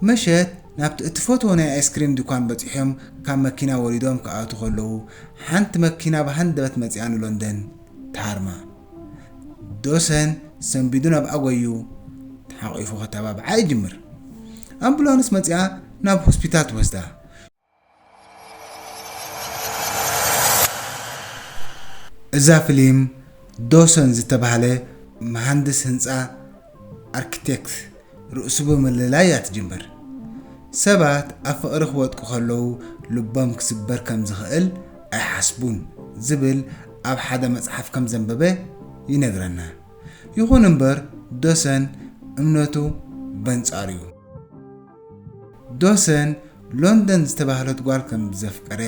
ምሸት ናብቲ እትፈትዎ ናይ ኣይስክሪም ድኳን በጺሖም ካብ መኪና ወሪዶም ክኣትዉ ከለዉ፣ ሓንቲ መኪና ብሃንደበት መጺኣ ንሎንደን ትሃርማ። ዶሰን ሰንቢዱ ናብኣ ጎዩ ተሓቚፉ ከተባብዓ ይጅምር። ኣምቡላንስ መጺኣ ናብ ሆስፒታል ትወስዳ። እዛ ፍሊም ዶሰን ዝተባህለ መሃንድስ ህንጻ፣ Architect፣ ርእሱ ብምልላይ እያ ትጅምር። ሰባት ኣብ ፍቕሪ ክወድቁ ከለዉ ልቦም ክስበር ከም ዝኽእል ኣይሓስቡን ዝብል ኣብ ሓደ መጽሓፍ ከም ዘንበበ ይነግረና። ይኹን እምበር ዶሰን እምነቱ በንጻሩ'ዩ። ዶሰን ሎንደን ዝተባህለት ጓል ከም ዘፍቀረ፣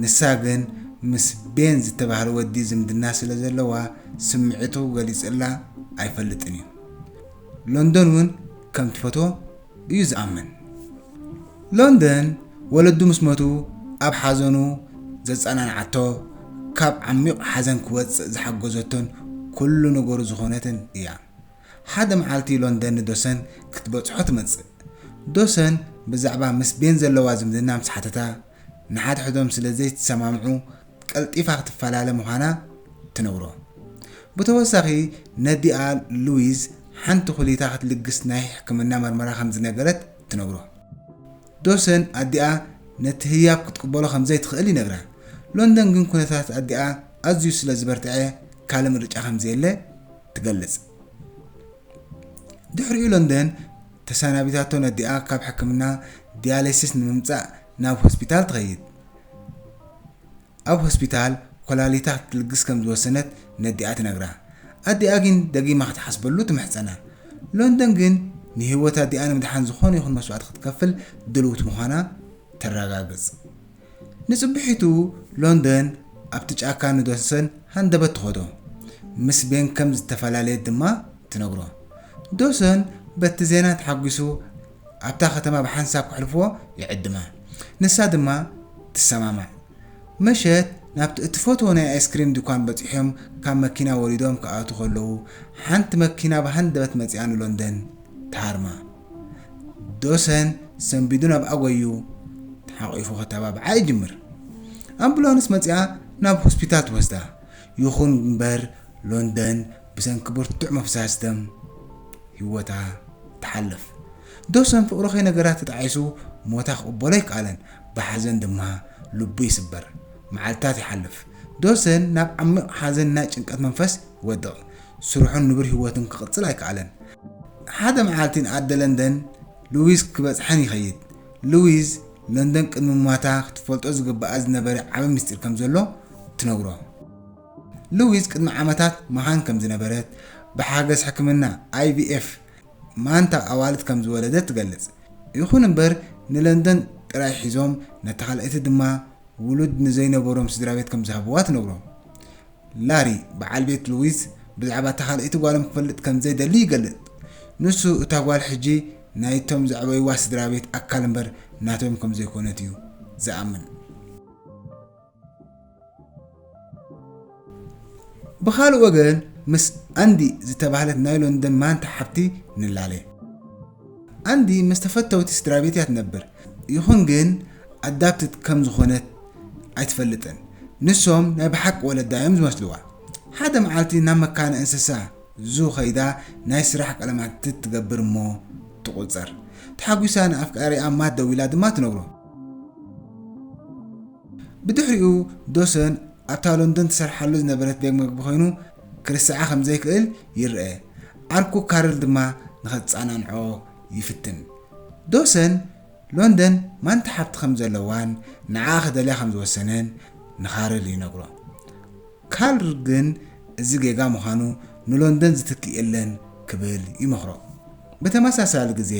ንሳ ግን ምስ ቤን ዝተባህለ ወዲ ዝምድና ስለ ዘለዋ ስምዒቱ ገሊጹላ ኣይፈልጥን እዩ። ሎንደን እውን ከም ትፈትዎ እዩ ዝኣምን። ሎንደን ወለዱ ምስ ሞቱ ኣብ ሓዘኑ ዘጸናንዓቶ፣ ካብ ዓሚቝ ሓዘን ክወጽእ ዝሓገዘቶን ኩሉ ነገሩ ዝኾነትን እያ። ሓደ መዓልቲ ሎንደን ንዶሰን ክትበጽሖ ትመጽእ። ዶሰን ብዛዕባ ምስ ቤን ዘለዋ ዝምድና ምስ ሓተታ፣ ንሓድሕዶም ስለ ዘይትሰማምዑ ቀልጢፋ ክትፈላለ ምዃና ትነግሮ። ብተወሳኺ ነዲኣ ሉዊዝ ሓንቲ ኩሊታ ክትልግስ ናይ ሕክምና መርመራ ከም ዝነገረት ትነግሮ። ዶሰን ኣዲኣ ነቲ ህያብ ክትቅበሎ ከም ዘይትኽእል ይነግራ። ሎንደን ግን ኩነታት ኣዲኣ ኣዝዩ ስለ ዝበርትዐ ካልእ ምርጫ ከም ዘየለ ትገልጽ። ድሕሪኡ ለንደን ተሰናቢታቶ ነዲኣ ካብ ሕክምና ዲያሌሲስ ንምምጻእ ናብ ሆስፒታል ትኸይድ። ኣብ ሆስፒታል ኮላሊታ ክትልግስ ከም ዝወሰነት ነዲኣ ትነግራ። ኣዲኣ ግን ደጊማ ክትሓስበሉ ትምሕጸና። ሎንደን ግን ንህይወት ኣዲኣ ንምድሓን ዝኾነ ይኹን መስዋእቲ ክትከፍል ድልውቲ ምዃና ተረጋግጽ። ንጽብሒቱ ሎንደን ኣብቲ ጫካ ንዶስን ሃንደበት ትኸዶ። ምስ ቤን ከም ዝተፈላለየት ድማ ትነግሮ። ዶስን በቲ ዜና ተሓጒሱ ኣብታ ከተማ ብሓንሳብ ከሕልፍዎ ይዕድማ። ንሳ ድማ ትሰማማዕ። ምሸት ናብቲ እትፈትዎ ናይ ኣይስክሪም ድኳን በጺሖም ካብ መኪና ወሪዶም ክኣትዉ ከለዉ ሓንቲ መኪና ብሃንደበት መጺኣ ንሎንደን ትሃርማ። ዶሰን ሰንቢዱ ናብ ኣጎዩ ተሓቂፉ ከተባብዓ ይጅምር። ኣምቡላንስ መጺኣ ናብ ሆስፒታል ትወስዳ። ይኹን እምበር ሎንደን ብሰንኪ ብርቱዕ ምፍሳስ ደም ህይወታ ትሓልፍ። ዶሰን ፍቕሩ ከይነገራት ተጣዒሱ ሞታ ክቕበሎ ኣይከኣለን። ብሓዘን ድማ ልቡ ይስበር። መዓልትታት ይሓልፍ። ዶሰን ናብ ዓሚቕ ሓዘን ናይ ጭንቀት መንፈስ ይወድቕ። ስርሑን ንቡር ህይወቱን ክቕጽል ኣይከኣለን። ሓደ መዓልቲ ንኣደ ለንደን ሉዊዝ ክበጽሐን ይኸይድ። ሉዊዝ፣ ለንደን ቅድሚ ምሟታ ክትፈልጦ ዝግብኣ ዝነበረ ዓቢ ምስጢር ከም ዘሎ ትነግሮ። ሉዊዝ ቅድሚ ዓመታት መኻን ከም ዝነበረት፣ ብሓገዝ ሕክምና IVF ማንታ ኣዋልድ ከም ዝወለደት ትገልጽ። ይኹን እምበር ንለንደን ጥራይ ሒዞም ነታ ካልኣይቲ ድማ ውሉድ ንዘይነበሮም ስድራቤት ከም ዝሃብዋ ትነግሮም። ላሪ፣ በዓል ቤት ሉዊዝ ብዛዕባ እታ ካልኣይቲ ጓሎም ክፈልጥ ከም ዘይደሊ ይገልጽ። ንሱ፣ እታ ጓል ሕጂ ናይቶም ዘዕበይዋ ስድራቤት ኣካል እምበር ናቶም ከም ዘይኰነት እዩ ዝኣምን። ብኻልእ ወገን፣ ምስ ኣንዲ ዝተባህለት ናይ ሎንደን ማንታ ሓብቲ ንላለ። ኣንዲ ምስ ተፈተውቲ ስድራቤት እያ ትነብር፣ ይኹን ግን ኣዳፕትድ ከም ዝዀነት ኣይትፈልጥን። ንሶም ናይ ብሓቂ ወለዳ እዮም ዝመስልዋ። ሓደ መዓልቲ ናብ መካነ እንስሳ ዙ ከይዳ ናይ ስራሕ ቃለመሕትት ትገብር እሞ ትቝጸር። ተሓጒሳ ንኣፍቃሪኣ ማት ደዊላ ድማ ትነግሮ። ብድሕሪኡ ዶሰን ኣብታ ሎንዶን ትሰርሓሉ ዝነበረት ቤግ መግቢ ኮይኑ ክርስዓ ከም ዘይክእል ይርኣ፣ ዓርኩ ካርል ድማ ንኸትጻናንዖ ይፍትን። ዶሰን ሎንደን ማንታ ሓብቲ ከም ዘለዋን ንዓኣ ክደልያ ከም ዝወሰነን ንካርል ይነግሮ። ካርል ግን እዚ ጌጋ ምዃኑ ንሎንደን ዝትክእ የለን ክብል ይመኽሮ። ብተመሳሳሊ ግዜ፣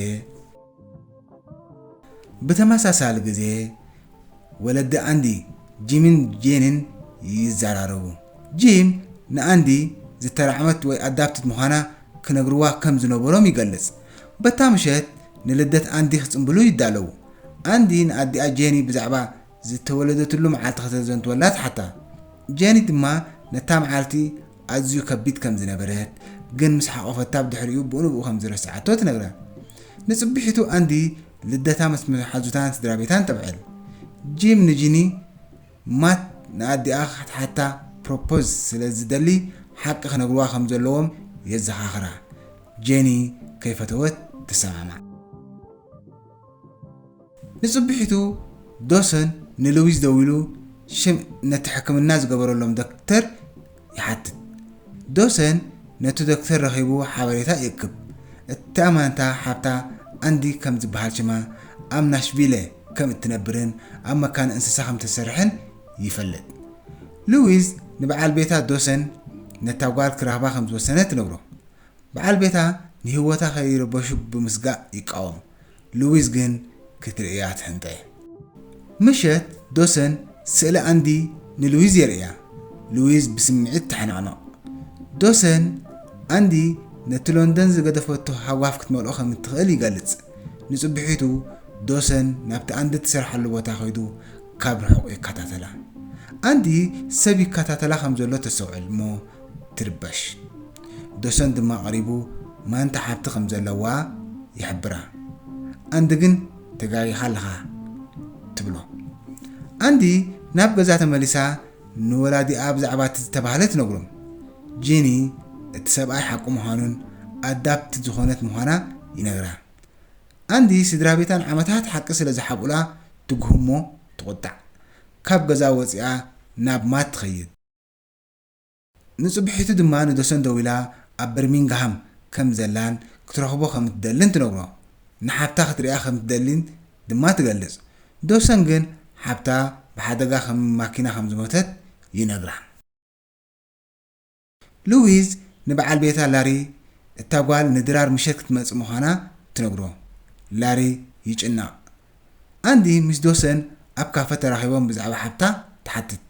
ብተመሳሳሊ ግዜ ወለዲ ኣንዲ፣ ጂምን ጄንን ይዘራረቡ። ጂም ንኣንዲ ዝተራዕመት ወይ ኣዳፕትድ ምዃና ክነግርዋ ከም ዝነበሮም ይገልጽ። በታ ምሸት ንልደት ኣንዲ ክጽምብሉ ይዳለዉ። ኣንዲ ንኣዲኣ ጄኒ ብዛዕባ ዝተወለደትሉ መዓልቲ ከተዘንትወላ ትሓታ። ጀኒ ድማ ነታ መዓልቲ ኣዝዩ ከቢድ ከም ዝነበረት፣ ግን ምስ ሓቖፈታ ብ ድሕሪኡ ብኡንብኡ ከም ዝረስዓቶ ትነግራ። ንጽብሒቱ ኣንዲ ልደታ ምስ መሓዙታን ስድራቤታን ተብዕል። ጂም ንጂኒ፣ ማት ንኣዲኣ ክትሓታ ፕሮፖዝ ስለ ዝደሊ ሓቂ ክነግርዋ ከም ዘለዎም የዘኻኽራ። ጀኒ ከይፈተወት ትሰማማዕ። ንጽብሒቱ ዶሰን ንሉዊዝ ደዊሉ ሽም ነቲ ሕክምና ዝገበረሎም ዶክተር ይሓትት። ዶሰን ነቱ ዶክተር ረኺቡ ሓበሬታ ይእክብ። እተኣማንታ ሓብታ ኣንዲ ከም ዝበሃል ሽማ ኣብ ናሽቪለ ከም እትነብርን ኣብ መካነ እንስሳ ከም እትሰርሕን ይፈልጥ። ሉዊዝ ንበዓል ቤታ ዶሰን ነታ ጓል ክረኽባ ከም ዝወሰነ ትነግሮ። በዓል ቤታ ንህይወታ ከይርበሹ ብምስጋእ ይቃወም፣ ሉዊዝ ግን ክትርእያ ትሕንጠ። ምሸት ዶሰን ስእሊ ኣንዲ ንሉዊዝ የርእያ፣ ሉዊዝ ብስምዒት ትሓነቕነቕ። ዶሰን፣ ኣንዲ ነቲ ሎንደን ዝገደፈቶ ሃጓፍ ክትመልኦ ከም እትኽእል ይገልጽ። ንጽብሒቱ ዶሰን ናብቲ ኣንዲ እትሰርሓሉ ቦታ ከይዱ ካብ ርሑቕ ይከታተላ። ኣንዲ ሰብ ይከታተላ ከም ዘሎ ተስተውዕል እሞ ትርበሽ። ዶሰን ድማ ቀሪቡ ማንታ ሓብቲ ከም ዘለዋ ይሕብራ። ኣንዲ ግን ተጋጊኻ ኣለኻ ትብሎ። ኣንዲ ናብ ገዛ ተመሊሳ ንወላዲኣ ብዛዕባ እቲ ዝተባህለ ትነግሮም። ጂኒ እቲ ሰብኣይ ሓቁ ምዃኑን ኣዳፕት ዝኾነት ምዃና ይነግራ። ኣንዲ ስድራቤታ ንዓመታት ሓቂ ስለ ዝሓብኡላ ትጉህሞ ትቑጣዕ። ካብ ገዛ ወጺኣ ናብ ማት ትኸይድ። ንጽብሒቱ ድማ ንዶሰን ደዊላ ኣብ በርሚንግሃም ከም ዘላን ክትረኽቦ ከም እትደልን ትነግሮ። ንሓብታ ክትርእያ ከም እትደሊን ድማ ትገልጽ። ዶሰን ግን ሓብታ ብሓደጋ ከም ማኪና ከም ዝሞተት ይነግራ። ሉዊዝ ንበዓል ቤታ ላሪ እታ ጓል ንድራር ምሸት ክትመጽእ ምዃና ትነግሮ። ላሪ ይጭነቕ። ኣንዲ ምስ ዶሰን ኣብ ካፈ ተራኺቦም ብዛዕባ ሓብታ ትሓትት።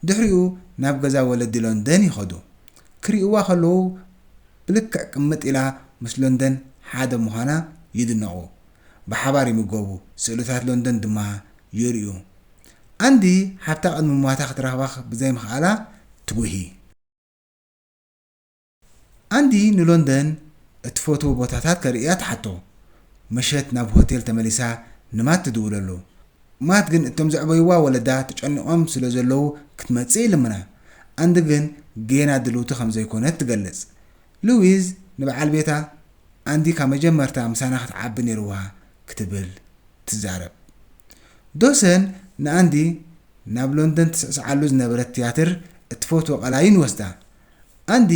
ድሕሪኡ ናብ ገዛ ወለዲ ሎንደን ይኸዱ። ክሪኡዋ ከለዉ ብልክዕ ቅምጥ ኢላ ምስ ሎንደን ሓደ ምዃና ይድነቑ። ብሓባር ይምገቡ፣ ስእልታት ሎንደን ድማ ይርእዩ። ኣንዲ ሓብታ ቅድሚ ምሟታ ክትረኽባ ብዘይምኽኣላ ትጉሂ። ኣንዲ ንሎንደን እትፈትዎ ቦታታት ከርእያ ትሓቶ። ምሸት ናብ ሆቴል ተመሊሳ ንማት ትድውለሉ። ማት ግን እቶም ዘዕበዩዋ ወለዳ ተጨኒቖም ስለ ዘለዉ ክትመጽእ ይልምና። ኣንዲ ግን ጌና ድልውቲ ከም ዘይኮነት ትገልጽ። ሉዊዝ ንበዓል ቤታ፣ ኣንዲ ካብ መጀመርታ ምሳና ክትዓቢ ነይርዋ ክትብል ትዛረብ። ዶሰን ንኣንዲ ናብ ሎንደን ትስዕስዓሉ ዝነበረት ትያትር እትፈትዎ ቀላይ ንወስዳ። ኣንዲ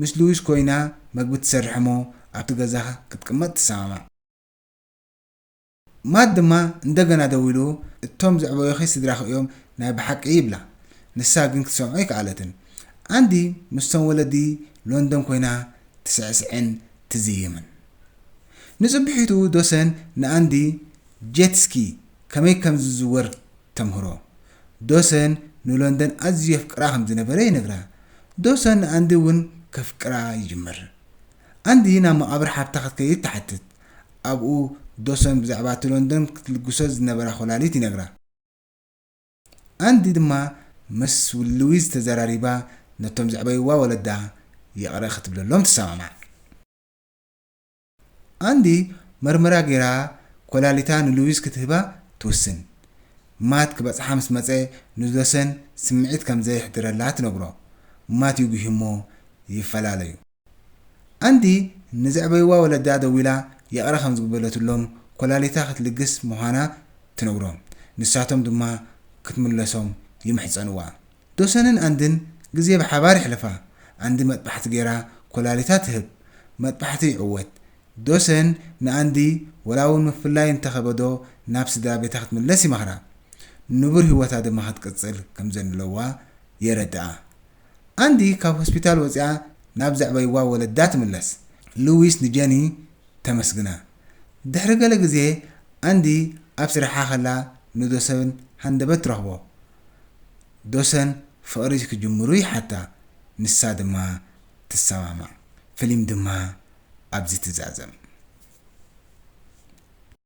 ምስ ሉዊስ ኮይና መግቢ ትሰርሕ እሞ ኣብቲ ገዛ ክትቅመጥ ትሰማማዕ። ማት ድማ እንደገና ደዊሉ እቶም ዘዕበዩኺ ስድራኺ እዮም ናይ ብሓቂ ይብላ። ንሳ ግን ክትሰምዖ ኣይከኣለትን። ኣንዲ ምስቶም ወለዲ ሎንደን ኮይና ትስዕስዕን ትዝይምን። ንጽብሒቱ ዶሰን ንኣንዲ ጄት ስኪ ከመይ ከም ዝዝወር ተምህሮ። ዶሰን ንሎንደን ኣዝዩ የፍቅራ ከም ዝነበረ ይነግራ። ዶሰን ንኣንዲ እውን ከፍቅራ ይጅምር። ኣንዲ ናብ መቓብር ሓብታ ክትከይድ ትሓትት። ኣብኡ ዶሰን ብዛዕባ እቲ ሎንደን ክትልግሶ ዝነበራ ኮላሊት ይነግራ። ኣንዲ ድማ ምስ ሉዊዝ ተዘራሪባ ነቶም ዘዕበይዋ ወለዳ ይቕረ ክትብለሎም ትሰማማዕ። ኣንዲ መርመራ ገይራ ኮላሊታ ንሉዊስ ክትህባ ትውስን። ማት ክበጽሓ ምስ መጸ ንሎሰን ስምዒት ከም ዘየሕድረላ ትነግሮ። ማት ይጒሂ'ሞ ይፈላለዩ። ኣንዲ ንዘዕበዩዋ ወለዳ ደዊላ ይቕረ ከም ዝግበረትሎም ኮላሊታ ክትልግስ ምዃና ትነግሮም። ንሳቶም ድማ ክትምለሶም ይምሕጸኑዋ። ዶሰንን ኣንድን ግዜ ብሓባር የሕልፋ። ኣንዲ መጥባሕቲ ገይራ ኮላሊታ ትህብ። መጥባሕቲ ይዕወት። ዶሰን ንኣንዲ ወላ እውን ምፍላይ እንተ ከበዶ ናብ ስድራ ቤታ ክትምለስ ይመኽራ። ንቡር ህይወታ ድማ ክትቅጽል ከም ዘንለዋ የረድኣ። ኣንዲ ካብ ሆስፒታል ወጺኣ ናብ ዘዕበይዋ ወለዳ ትምለስ። ሉዊስ ንጀኒ ተመስግና። ድሕሪ ገለ ግዜ ኣንዲ ኣብ ስራሓ ከላ ንዶሰን ሃንደበት ትረኽቦ። ዶሰን ፍቕሪ ክጅምሩ ይሓታ ንሳ ድማ ትሰማማዕ ፍሊም ድማ ኣብዚ ትዛዘም።